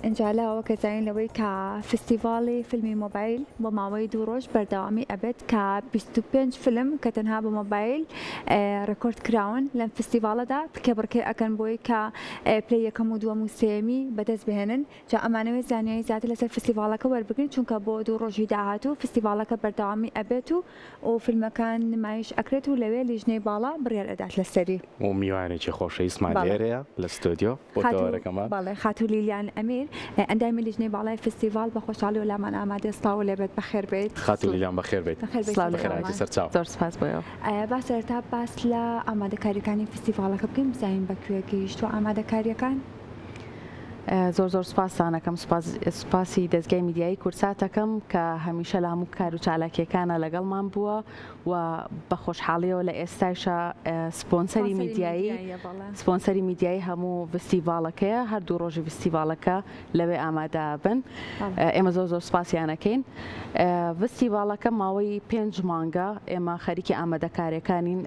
ئینجا لاوە کە زانین لەوەی کە فستیڤاڵی فیلمی مۆبایل بۆ ماوەی دوو ڕۆژ بەردەوامی ئەبێت کە بیست و پێنج فیلم کە تەنها بە مۆبایل ڕێکۆرد کراون لەم فستیڤاڵەدا پکێبڕکێ ئەکەن بۆی کە پلەی یەکەم و دووەم و سێیەمی بەدەست بهێنن جا ئەمانەوێت زانیاری زیاتر لەسەر فستیڤاڵەکە وەربگرن چونکە بۆ دوو ڕۆژی داهاتوو فستیڤاڵەکە بەردەوامی ئەبێت و و فیلمەکان نمایش ئەکرێت و لەوێ لیژنەی باڵا بڕیار ئەدات لەسەری. و میوانێکی خۆشەویستمان لێرەیە لە ستۆدیۆ بۆ تەوەرەکەمان. بەڵێ خاتوو لیلیان ئەمیر ئەندامی لیژنەی باڵای فیستیڤاڵ بە خۆشحاڵیەوە لامان ئامادەیە سڵاوو لێبێت بەخێر بێیت. خاتوو لیلیان بەخێر بێیت. بەخێر بێیت سڵاو لە ئێوەمان. بەخێرهاتی سەرچاو. زۆر سوپاس بۆ ئێوە. با سەرەتا باس لە ئامادەکاریەکانی فیستیڤاڵەکە بکەین بزانین بە کوێ گەیشتووە ئامادەکاریەکان؟ زۆر زۆر سپاستانەکەم سپاسی دەستگای میدیایی کورساتەکەم کە هەمیشە لە هەموو کار و چالاکیەکانە لەگەڵمان بووە و بە خۆشحاڵیەوە لە ئێستایشە سپۆنسەری میدیایی سپۆنسەری میدیایی هەموو فستیڤالەکەیە هەردوو ڕۆژی فستیڤالەکە لەوێ ئامادا بن ئێمە زۆر زۆر سپاسیانەکەین فستیڤالەکە ماوەی پێنج مانگە ئێمە خەریکی ئامادەکارەکانین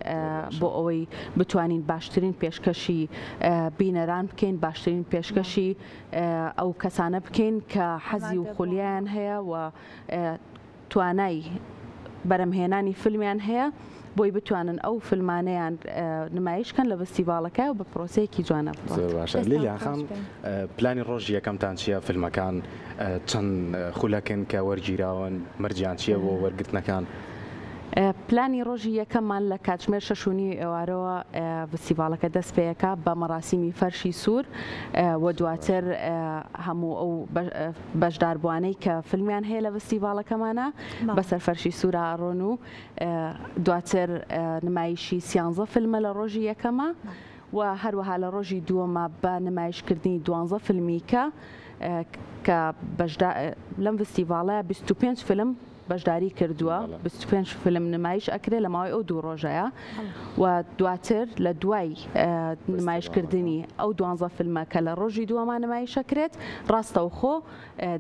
بۆ ئەوەی بتوانین باشترین پێشکەشی بینەران بکەین باشترین پێشکەشی ئەو کەسانە بکەین کە حەزی و خولیان هەیە و توانای بەرەمهێنانی فیلمیان هەیە بۆی بتوانن ئەو فیلمانەیان نمایشکەن لە بەستیڤاڵەکە و بە پرۆسەیەکی جوانە لیلیاخان پلانی ڕۆژی یەکەمتان چیە فیلمەکان چەند خولەکن کە وەرگیراون مەرجیان چیە بۆ وەرگرتنەکان؟ پلانی ڕۆژی یەکەممان لە کاتژمێر شەش و نیوی ئێوارەوە فستیڤاڵەکە دەست پێیەکە بە مەراسیمی فەرشی سوور و دواتر هەموو ئەو بەشداربووانەی کە فیلمیان هەیە لە فستیڤاڵەکەمانە بەسەر فەرشی سوورە ئاڕۆن و دواتر نمایشی سیانزە فیلمە لە ڕۆژی یەکەمە و هەروەها لە ڕۆژی دووەمە بە نمایشکردنی دوانزە فیلمیکە کە بەشدا لەم فستیڤاڵە 25 فیلم بەشداری کردووە بیست و پێنج فیلم نمایش ئەکرێ لە ماوەی ئەو دوو ڕۆژەیە و دواتر لە دوای نمایشکردنی ئەو دوانزە فیلمە کە لە ڕۆژی دووەمان نمایشەکرێت ڕاستەوخۆ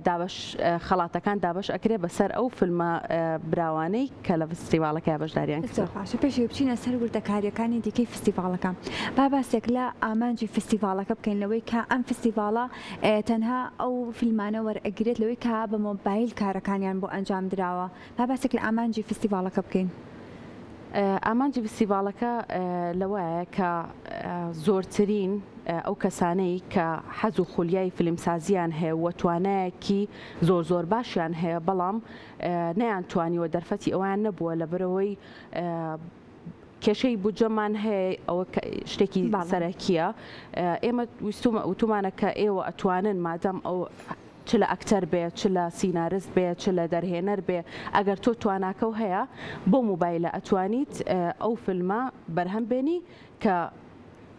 دابش خەڵاتەکان دابش ئەکرێ بەسەر ئەو فیلمە براوانەی کە لە فستیڤالەکە بەشداریان باشە پێش بچینە سەر وردەکاریەکانی دیکەی فستیڤالەکە با باسێک لە ئامانجی فستیڤالەکە بکەین لەوەی کە ئەم فستیڤالە تەنها ئەو فیلمانە وەرئەگیرێت لەوەی کە بە مۆبایل کارەکانیان بۆ ئەنجام دراوە، با باسێک لە ئامانجی فستیڤاڵەکە بکەین. ئامانجی فستیڤاڵەکە لەوەیە کە زۆرترین ئەو کەسانەی کە حەز و خولیای فیلمسازیان هەیە و توانایەکی زۆر زۆر باشیان هەیە بەڵام نەیان توانیوە دەرفەتی ئەویان نەبووە لەبەرەوەی کێشەی بودجەمان هەیە ئەوە شتێکی سەرەکیە ئێمە ویستومە وتومانە کە ئێوە ئەتوانن مادەم ئەو چ لە ئەکتەر بێ چ لە سینارست بێ چ لە دەرهێنەر بێ ئەگەر تۆ تواناکە و هەیە بۆ موبایلە ئەتوانیت ئەو فیلمە بەرهەم بێنی کە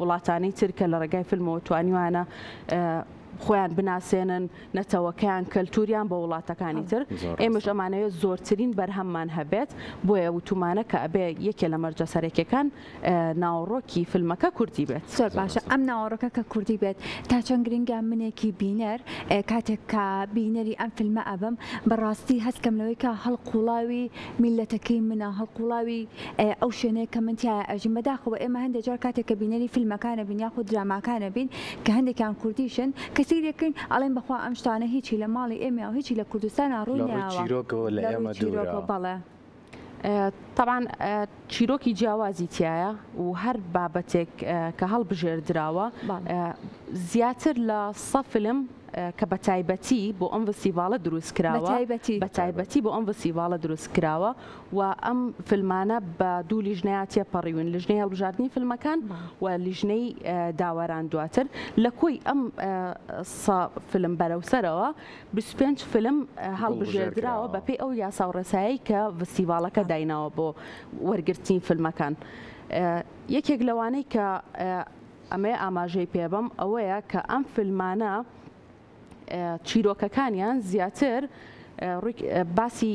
وڵاتانی تر کە لە ڕێگای فیلمەوە توانیوانە خۆیان بناسێنن نەتەوەکەیان کەلتوریان بە وڵاتەکانی تر ئێمەش ئەمانەوێت زۆرترین بەرهەممان هەبێت بۆیە وتومانە کە ئەبێ یەکێ لە مەرجە سەرەکیەکان ناوەڕۆکی فیلمەکە کوردی بێت زۆر باشە ئەم ناوەڕۆکە کە کوردی بێت تا چەند گرنگە منێکی بینەر کاتێک کە بینەری ئەم فیلمە ئەبم بەڕاستی هەستکەم لەوەی کە هەڵقوڵاوی میللەتەکەی منە هەڵقوڵاوی ئەیە ئەو شوێنەیە کە من تیایا ئەژیم بەداخەوە ئێمە هەندێ جار کاتێک کە بینەری فیلمەکانە بین یاخود دراماکانە بین کە هەندێکیان کوردیشن کە سەیری ئەکەین ئەڵێین بەخوا ئەم شتانە هیچی لە ماڵی ئێمەیەو هیچی لە کوردستانا ڕووی نەیاوە لە ڕووی چیرۆکەوە لە ئێمە دوورە بەڵێ تەبعەن چیرۆکی جیاوازی تیایە و هەر بابەتێک کە هەڵبژێردراوە زیاتر لە سە فیلم کە بە تایبەتی بۆ ئەم ڤستیڤاڵە دروست کراوە بە تایبەتی بۆ ئەم ڤستیڤاڵە دروست کراوە و ئەم فیلمانە بە دوو لیژنەیە تێپەڕیون لیژنەی هەڵبژاردنی فیلمەکان و لیژنەی داوەران دواتر لە کۆی ئەم فیلم بەرەوسەرەوە 25 فیلم هەڵبژێردراوە بەپی ئەو یاسا و ڕێسایی کە ڤستیڤاڵەکە دایناوە بۆ وەرگرتنی فیلمەکان یەکێک لەوانەی کە ئەمەی ئاماژەی پێبەم ئەوەیە کە ئەم فیلمانە چیرۆکەکانیان زیاتر باسی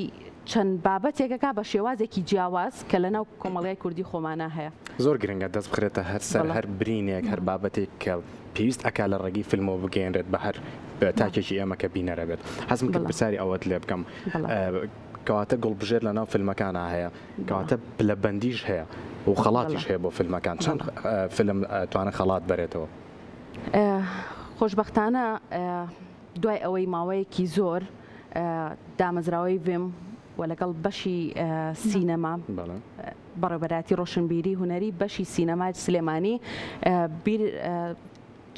چەند بابەتێکەکە بە شێوازێکی جیاواز کە لەناو کۆمەڵگای کوردی خۆمانە هەیە زۆر گرنگە دەست بخرێتە هەر سەر هەر برینێک هەر بابەتێک کە پێویست ئەک لە ڕێگەی فیلمەوە بگەێنرێت بە هەر تاکێکی ئێمە کە بینەرە بێت حەزم کرد پرسیاری ئەوەت لێ بکەم کەواتە گوڵبژێر لە ناو فیلمەکانە هەیە کەواتە پلەبەندیش هەیە و خەڵاتیش هەیە بۆ فیلمەکان چەند فیلم توانە خەڵات بەرێتەوە؟ خۆشبەختانە دوای ئەوەی ماوەیەکی زۆر دامەزراوەی ڤێم و لەگەڵ بەشی سینەما بەڕێبەراتی ڕۆشنبیری هوەری بەشی سینەمای سلێمانی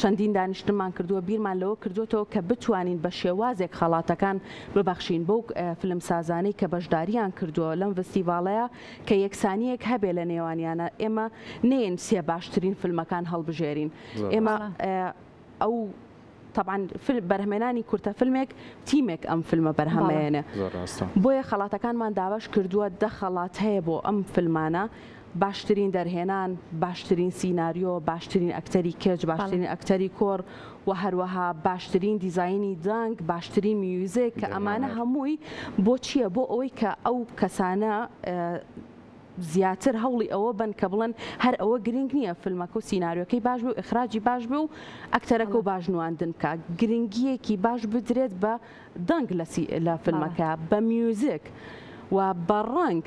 چەندین دانیشتنمان کردووە بیرمان لەوە کردووەتەوە کە بتوانین بە شێوازێک خەڵاتەکان ببەخشین بەو فیلمسازانەی کە بەشدارییان کردووە لەم ڤستیڤاڵەیە کە یەکسانییەک هەبێ لە نێوانیانە ئێمە نێین سێ باشترین فیلمەکان هەڵبژێرین ئێمە ئەو تەبان بەرهمێنانی کورتە فیلمێک تیمێک ئەم فیلمە بەرهەمێنێ بۆیە خەڵاتەکانمان داواش کردووە دە خەڵات هەیە بۆ ئەم فیلمانە باشترین دەرهێنان، باشترین سیناریۆ، باشترین ئەکتەری کچ، باشترین ئەکتەری کوڕ و هەروەها باشترین دیزاینی دەنگ، باشترین میوزیک کە ئەمانە هەمووی بۆ چییە؟ بۆ ئەوەی کە ئەو کەسانە زیاتر هەوڵی ئەوە بەن کە بڵێن هەر ئەوە گرنگ نییە فیلمەکە و سیناریۆکەی باش بێ و ئیخراجی باش بێ و ئەکتەرەکە و باش نواندن بکات، گرنگییەکی باش بدرێت بە دەنگ لە فلمەکە بە میوزیک و بە ڕەنگ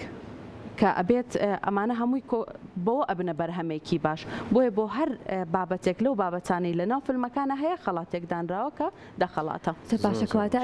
کە ئەبێت ئەمانە هەمووی کۆ بەوە ئەبنە بەرهەمێکی باش بۆیە بۆ هەر بابەتێک لەو بابەتانەی لەناو فلمەکانە هەیە خەڵاتێک دانراوە کە دە خەڵاتە.